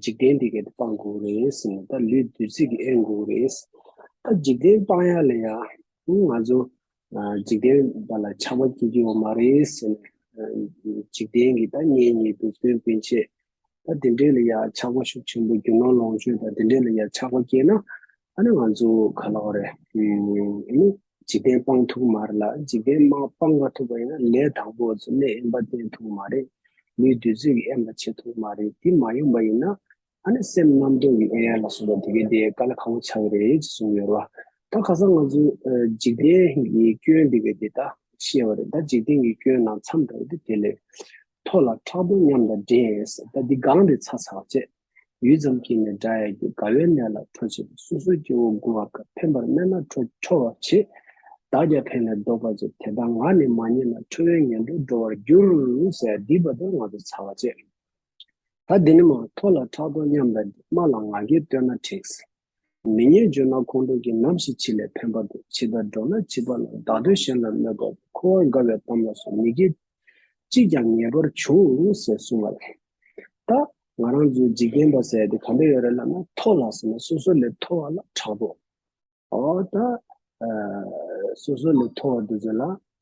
འཇིག་རྟེན་འདི་སྐད་དུ་སྤང་དགོས་རེད། ད་ལུས་བདུད་རྩི་གིས་ཨེ་འགུགས་རེད། ད་འཇིག་རྟེན་སྤང་ཡ་ལ་ཡ། ང་ཚོ་འཇིག་རྟེན་པ་ལ་ཆགས་པ་སྐྱེ་རྒྱུ་བ་མ་རེད། འཇིག་རྟེན་གྱི་ད་ངེད་གཉིས་སྡུག་སོན་སྤེན་ཆེད། ད་འདི་འདྲས་ལ་ཡ་ཆགས་པ་ཤུགས་ཆེན་པོ་རྒྱུ་ནོར་ལོངས་སྤྱོད་ད་འདི་འདྲས་ལ་ཡ་ཆགས་པ་སྐྱེས་ན། ཨ་ན་ང་ཚོ་ག་ལ་བ་རེད། འཇིག་རྟེན་སྤང་ཐུག་མ་རེད་ལ་འཇིག་རྟེན་སྨྲ་སྤང་མ་ཐུག་པ་ཡིན་ན་ལས་དང་པོ་བཟོ་གནས་དབེན་པ་བསྟན་ཐུག་མ་རེད། ལུས་བདུད་རྩི་གི་དབེན་པ་བྱེད་ཐུག་མ་རེད་དེ་མ་ཡོང་པ་ཡིན་ན། ཨ་ནི་སེམས་རྣམ་རྟོག་གི་དབེན་ཡར་ལ་སོང་བ་དེ་གའི་དེ་ག་ལ་ཁག་པོ་ཆགས་རེད་ཅེས་གསུངས་ཡོད་རེད་བ། ད་ག་ས་ང་ཚོས་འཇིག་རྟེན་གྱི་སྐྱོན་དེ་གའི་དེ་ད་ཤེས་བ་རེད་ད་འཇིག་རྟེན་གྱི་སྐྱོན་ནང་མཚམས་དྲགས་ཏེ་དེ་ལས། ཐོ་ལ་ཁྲག་འཐུང་མཉམ་དང་འདྲེས་ཡས་ཟེར་ད་འདི་གང་རེད་ཚ་ཚག་བྱས། ཡུད་ཙམ་གྱིས་ནས་འདྲ་ཡས་ཀྱི་དགའ་བའི་ནད་ལ་ཁྲོ་བྱེད་པའི་སོ་སོའི་སྐྱེ་བོ་མགུ་བ་ཀ་ཕན་པར་སྨྲས་ན་ཁྲོ་ཁྲོ་བར་བྱེད། བདག་རྒྱ་ཕན་ལས་བཟློག་པར་བྱེད་དེ་ལྟར་ང་ནི་མ་རྙེད་ན་ཁྲོ་བའི་ངན་འགྲོར་འགྲོ་བར་འགྱུར། ཟས་འདིས་བ་དན་ང་ཚོ་ཚ་བ་བྱས། ད་འདི་ནི་མ་ཐོ་ལ་ཁྲག་འཐུང་མཉམ་དང་འདྲེས་སྨྲ་ལ་ང་རྒྱལ་བསྟོད་ན་འཁྲིགས། མི་སྙན་བརྗོད་ན་ཁོང་ཁྲོ་གྱིས་ནམ་ཞིག་ཕྱི་ལས་ཕན་པ་དེ་ཕྱི་ལྟར་འགྲོ་ན་བྱིས་པ་ལ་བདག་དོན་གཞན་ལ་གནོད་པར་འཁོར་བར་དགའ་བའི་གཏམ་ལ་སོགས་མི་དགེ་ཅིས་ཀྱང་ངེས་པར་འབྱུང་ཟེར་གསུངས་བ་ལས། ད་ང་རང་ཚོའི་འཇིག་རྟེན་པ་ཟེར་དེ་ག་འདྲ་ཡོད་རེད་ལབ་ན་མཐོ་ལ་ཟེར་ན་སོ་སོ་ལས་མཐོ་བ་ལ་དྲག་པོ། ཨོ་ད། སོ་སོ་ལས་མཐོ་བ་དེ་ཚོ་ལ་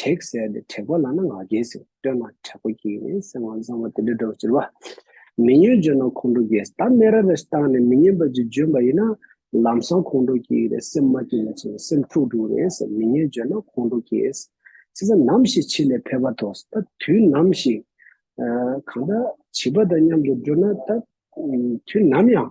དྲེགས་བསལ་ཏེ་དྲེགས་པ་ལག་ན་ང་རྒྱལ་ཟེར་བསྟོད་ན་དྲེགས་པ་ཁྱེད་ཡིན་ནས་སེམས་དབང་གཙང་མ་དེ་འདྲ་སྒྲོག་ཅེས་པ། མི་སྙོན་བརྗོད་ན་ཁོང་ཁྲོ་རྒྱས་ད་སྨད་ར་རེ་བཏང་ནས་མི་སྙོན་པ་ཅིག་བརྗོད་པ་ཡིན་ན་ལམ་སང་ཁོང་ཁྲོ་རྒྱས་རེད་སེམས་མ་སྐྱིད་ན་ཆེ་བ་སེམས་འཁྲུག་འཁྲུག་རེད་ཟེར་མི་སྙོན་བརྗོད་ན་ཁོང་ཁྲོ་རྒྱས། ཚེ་ས་ནམ་ཞིག་ཕྱི་ལས་ཕེབས་པ་ཐོགས་ད་དུས་ནམ་ཞིག། གང་ལྟར་བྱིས་པ་དང་མཉམ་དུ་འགྲོ་ན་ད་དུས་ནམ་ཡང།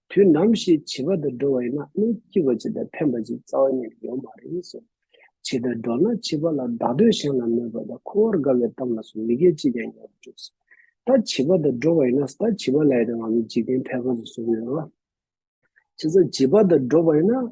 དུས་ནམ་ཞིག་བྱིས་པ་དང་འགྲོགས་བ་ཡིན་ན་སྣེ་སྐྱིད་པ་ཅིག་དང་ཕན་པ་ཅིག་རྩ་བ་ཉིད་ལ་ཡོད་མ་རེད་བསམ། བྱིས་དང་འགྲོགས་ན་བྱིས་པ་ལ་བདག་དོན་གཞན་ལ་མོས་པ་དང་ཁོ་བོར་དགའ་བའི་གཏམ་ལ་སོགས་མི་སྒེར་ཅིས་ཀྱང་ཉོ་བར་འགྱུར། ད་བྱིས་པ་དང་འགྲོགས་པ་ཡིན་ན་ད་བྱིས་པ་ལ་ཡི་རང་བ་མིའི་འཇིག་རྟེན་ཕལ་ཁ་ཟུ་ཟུར་ཡོད། བྱས་ཙང་བྱིས་པ་དང་འགྲོགས་པ་ཡིན་ན་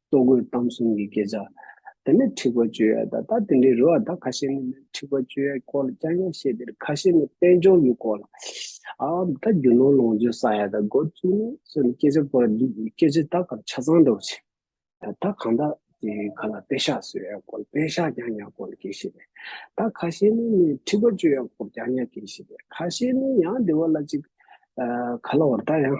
ལྟོ་གོས་གཏམ་གསུམ་གྱི་སྐད་ཆ། དེ་ནས་འཁྲིག་པ་སྤྱོད་ཡ་དང་ད་དེ་འདྲའི་རུ་བ་དག་ཁ་ཤས་ནི་འཁྲིག་པ་སྤྱོད་ཡའི་སྐོར་ལ་ཀྱང་ཀྱང་བཤད་དེར་ཁ་ཤས་ནི་དཔལ་འབྱོར་གྱི་སྐོར་ལ་ཨའམ་ད་རྒྱུ་ནོར་ལོངས་སྤྱོད་ས་ཡ་དང་སྒོར་བཅུ་ནི་སོགས་ནི་སྐད་ཆ་སྐོར་ལ་འདུག་སྐད་ཆ་དག་གམ་ཆ་ཚང་འདྲ་བོ་བྱེད། ད་གང་དག་གི་ཁ་ལ་དཔེ་ཤག་བཟོས་ཡ་སྐོར་དཔེ་ཤག་ཀྱང་ཀྱང་སྐོར་ལ་སྐད་བཤད་པས་ད་ཁ་ཤས་ནི་ནི་འཁྲིག་པ་སྤྱོད་ཡ་སྐོར་ཀྱང་ཀྱང་སྐད་བཤད་པས་ཁ་ཤས་ནི་ཡང་བདེ་བ་ལ་ཅིག། ཁ་ལ་འོར་ད་ཡང།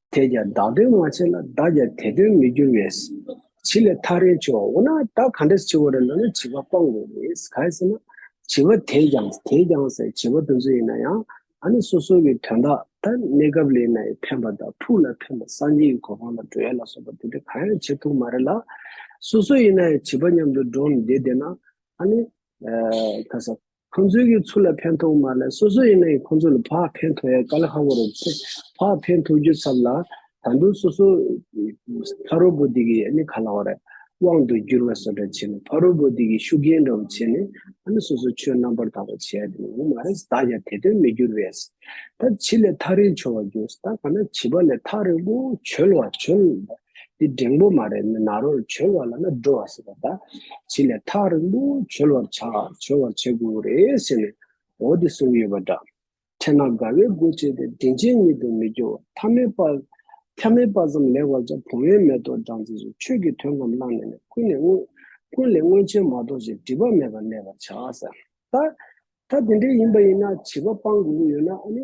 དེས་ཀྱང་བདག་དོན་མ་བྱས་ལ་བདག་ཀྱང་དེ་དོན་མི་འགྱུར་བས། བྱི་ལས་ཐག་རིང་བྱེད་བ་འོ་ན་བདག་ག་འདྲས་བྱི་བ་རེ་ལ་ནི་བྱི་བ་སྤང་དགོས་ནས་གལ་སྲིད་ན། བྱི་བ་དེས་ཀྱང་དེས་ཀྱང་ཟེར་བྱི་བ་དེ་ཚོ་ཡིན་ན་ཡང་ཨ་ནི་སོ་སོ་གི་དོན་དག་དང་གནས་སྐབས་ལས་ན་ཡི་ཕན་པ་དང་ཕུགས་ལ་ཕན་པ་སངས་རྒྱས་ཀྱི་གོ་འཕང་ལ་འགྲོ་ཡ་ལ་སོགས་པ་དེ་འདྲ་གང་ཡང་བྱེད་ཐུབ་མ་རེད་ལ། སོ་སོ་ཡིན་ན་ཡང་བྱི་བ་མཉམ་དུ་འགྲོགས་ནས་བསྡད་བསྡད་ན་ཨ་ནི། ཁ་སང། ཁོང་ཚོའི་གི་ཚུར་ལ་ཕན་ཐོག་མ་ལ་སོ་སོ་ཡིན་ན་ཡིན་ཁོང་ཚོ་ལ་བག་ཕན་ཐོག་ཡ་ག་ལ་ཧ་གོ་རོ། བག་ཕན་ཐོག་རྒྱུ་ཚབ་ལ་ད་དུང་སོ་སོ་ཕ་རོ་བོ་དེ་གི་ནི་ག་ལ་བ་རེད་དབང་དུ་འགྱུར་བ་སོ་འདྲ་བྱེད་ནི་ཕ་རོ་བོ་དེ་གི་ཤུགས་རྐྱེན་འདྲ་བོ་བྱེད་ནི་ཨ་ནི་སོ་སོ་ཆོས་རྣམ་པར་དག་པ་བྱེད་ཡ་དེ་ནི་ངོ་མ་རེད་ད་ཡ་དེ་དོན་མི་འགྱུར་བས་ད་བྱི་ལས་ཐག་རིང་བྱོ་བ་འགྱུར་ད་ག་ན་བྱི་བ་ལས་ཐག་རིང་པོ་བྱོལ་བ་བྱོལ། འདི་འབྲིང་པོ་མ་རེད་ནག་རོར་བྱོལ་བ་ལ་ན་འགྲོ་བ་ཟེར་བ་དང། བྱི་ལས་ཐག་རིང་པོ་བྱོལ་བར་བྱ། བྱོལ་བར་བྱེད་དགོས་རེད་ཟེར་ནས་འོ་དེ་གསུངས་ཡོད་པ་འདྲ། ཕྲད་ན་དགའ་བའི་སྒོ་འབྱེད་དེ་དྲིན་ཅན་ཉིད་དུ་མི་འགྱུར་ཐ་མལ་པ། ཐ་མལ་པ་ཙམ་ལས་བར་ཆ་བུང་བའི་མེ་ཏོག་སྦྲང་རྩི་བཞིན་ཆོས་ཀྱི་དོན་ངམ་བླངས་ནས་ནས་ཀུན་ནས་དངོས། ཀུན་ལས་དངོས་ཆེན་མ་གཏོགས་ཞེས་སྒྲིབ་པ་མེད་པར་གནས་པར་བྱ། ད་ཐ་དེ་འདྲའི་ཡིན་པ་ཡིན་ན་བྱིས་པ་སྤང་དགོས་ཀྱི་ཡོད་ན་ཨ་ནི།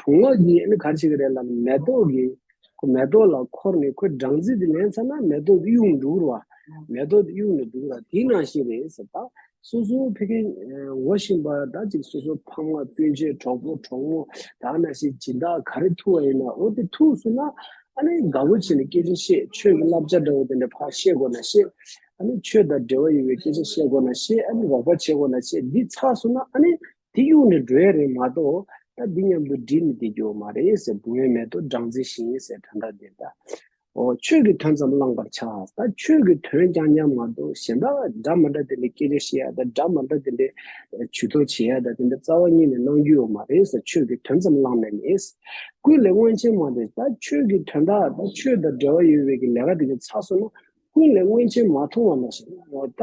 བུང་བ་གྱིས་ཨེ་ནི་གར་བྱེད་ཀྱི་རེད་ལབ་ནས་མེ་ཏོག་གི་མེ་ཏོག་ལ་འཁོར་ནས་ཁོའི་སྦྲང་རྩི་དེ་ལེན་ཚར་ན་མེ་ཏོག་དེ་གཡུག་འགྲོ་བར་མེ་ཏོག་དེ་གཡུག་ནས་འགྲོ་གི་ར་དེ་ནང་བཞིན་རེད་ཟེར་ད་སོ་སོ་ཕེ་ཁེ་ངོ་བཞིན་པ་ད་ཅིག་སོ་སོ་ཕ་མ་སྤུན་མཆེད་གྲོགས་པོ་གྲོགས་མོ་ད་ན་ཞིག་སྦྱིན་བདག་ག་རེ་ཐུག་བ་ཡིན་ན་འོ་དེ་ཐུག་སོང་ན་ཨ་ནི་དགའ་བོ་བྱེད་ནས་སྐད་ཆ་བཤད་ཆོས་ཀྱི་བསླབ་བྱ་འདྲ་བོ་དེ་འདྲ་ཕར་བཤད་དགོས་ན་བཤད་ཨ་ནི་ཆོས་དང་འབྲེལ་བ་ཡོད་པའི་སྐད་ཆ་བཤད་དགོས་ན་བཤད་ཨ་ནི་རོགས་པ་བྱེད་དགོས་ན་བྱེད་འདི་ཚར་སོང་ན་ཨ་ནི་དེ་གཡུག་ནས་འགྲོ་ཡ་རེད་མ་གཏོགས་ད་འདི་མཉམ་དུ་འགྲིག་ནས་བསྡད་རྒྱུ་མ་རེད་ཟེར་སྦུག་ངན་མེད་དོ་སྦྲང་རྩི་བཞིན་ཡིན་ཟེར་དོན་དག་འདི་ལྟ་འོ། ཆོས་ཀྱི་དོན་ཙམ་བླངས་པར་བྱ་ད་ཆོས་ཀྱི་དོན་རྐྱང་རྐྱང་མ་གཏོགས་གཞན་དག་འདྲ་མ་འདྲ་དེ་འདྲའི་སྐད་ཆ་བཤད་ཡ་ད་འདྲ་མ་འདྲ་དེ་འདྲའི་བྱུས་གཏོགས་བྱེད་ཡ་ད་དེ་འདྲ་རྩ་བ་ཉིད་ནས་གནང་རྒྱུ་ཡོད་མ་རེད་ཟེར་ཆོས་ཀྱི་དོན་ཙམ་བླངས་ནས་ནི། ཀུན་ལས་མངོན་ཆེན་མ་དེ་ད་ཆོས་ཀྱི་དོན་དག་ད་ཆོས་དང་འབྲེལ་བ་ཡོད་བས་ཀྱི་ལས་ཀ་དེ་ཀྱང་ཚགས་སོང་ན་ཀུན་ལས་མངོན་ཆེན་མ་མཐོང་བ་ན་ཞིག་ད་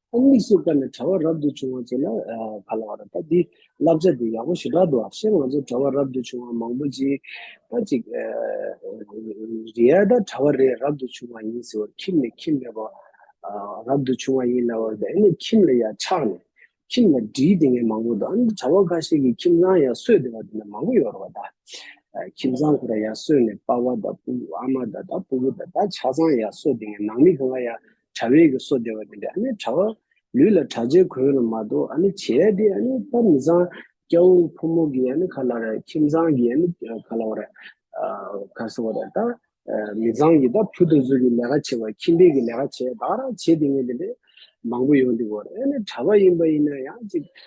ཨོང་ལི་སུ་བཀའ་ནས་གྲྭ་བ་རབ་ཏུ་བྱུང་བ་བཅས་ལ་ག་ལ་བ་ར་ད་འདིས་བསླབ་བྱ་འདི་ཡག་པོ་ཞེ་དྲག་འདུག་ཨ་ཤེ་ང་ཚོ་གྲྭ་བ་རབ་ཏུ་བྱུང་བ་མང་པོ་ཅིག་ད་ཅིག་རེད་ད་གྲྭ་བ་རེད་རབ་ཏུ་བྱུང་བ་ཡིན་ཟེར་བར་ཁྱིམ་ནས་ཁྱིམ་མེད་པ་རབ་ཏུ་བྱུང་བ་ཡིན་ལབ་བར་དེ་ནས་ཁྱིམ་ལ་ཡ་ཆགས་ནས་ཁྱིམ་ལ་འདྲིས་དེ་ངས་མང་པོ་འདུག་ཨ་ནི་གྲྭ་བ་ཁ་ཤས་ཀྱི་ཁྱིམ་ཚང་ཡ་སོས་དེ་བ་དེ་ནས་མང་པོ་ཡོད་ར་བ་ད་ཁྱིམ་ཚང་ཁོ་ར་ཡ་སོས་ནས་པ་བ་ད་སྤུ་ཨ་མ་ད་ད་སྤུ་གུ་ད་ད་ཆ་ཚང་ཡ་སོས་དེ་ངས་ནང་མི་གང་ག་ཡ། དྲ་བས་ཀྱི་སོ་བདེ་བ་དེ་འདྲ་ཨ་ནི་དྲ་བ་ལུས་ལ་དྲ་རྗེས་གོས་རུ་མ་གཏོགས་ཨ་ནི་བྱས་ཏེ་ཨ་ནི་པ་མི་བཟང་སྐྱ་བོ་ཕོ་མོ་གི་ཨ་ནི་ག་ལ་རེད་ཁྱིམ་ཚང་གི་ཨ་ནི་ག་ལ་བ་རེད་ག་སོ་བ་རེད་ད་མི་བཟང་གི་ད་བུ་དོ་ཟུར་གི་ལས་ཀ་བྱེད་པ་ཁྱིམ་པས་ཀྱི་ལས་ཀ་བྱས་ད་རང་བྱས་དེ་ངས་དེ་འདྲས་མང་པོ་ཡོང་དེ་བ་རེད་ཨ་ནི་དྲ་བ་ཡིན་པ་ཡིན་ན་ཡང་ཅིག་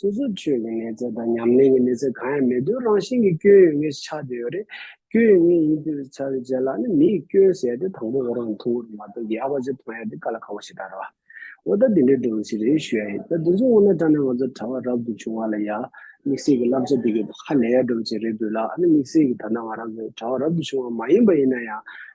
སོ་སོར་ཆོས་ཀྱི་གནས་ཚད་དང་ཉམས་ལེན་གྱི་གནས་ཚད་གང་ཡང་མེད་དུས་རང་བཞིན་གྱི་སྐྱོན་ཡོད་ངེས་སུ་ཆགས་དེ་ཡོད་རེད། སྐྱོན་ཡོད་ངེས་ཡིན་དུས་ཆགས་པའི་རྗེས་ལ་ནི་མིའི་སྐྱོན་བསལ་ཏེ་དང་པོ་འོ་རང་མཐོང་གི་མ་གཏོགས་ཡག་པ་ཅིག་མཐོང་ཡ་དེ་ག་ལ་ཁག་པོ་ཞིག་ད་རེད་བ། འོ་ད་འདི་འདྲའི་སྒྲུང་ཞིག་རེ་ཞུ་ཡ་ཡིན་ད་དེ་ཚོ་སྔོན་ན་དྲ་ནས་ང་ཚོར་དྲ་བ་རབ་ཏུ་བྱུང་བ་ལ་ཡ། དམིགས་བསལ་གྱི་བསླབ་བྱ་འདི་གའི་ཧ་ལས་ཡ་སྒྲུང་ཞིག་རེ་འབུལ་ལགས་ཨ་ནི་དམིགས་བསལ་གྱི་ད་ལྟ་ང་རང་ཚོའི་དྲ་བ་རབ་ཏུ་བྱུང་བ་མ་ཡིན་པ་ཡིན་ན་ཡང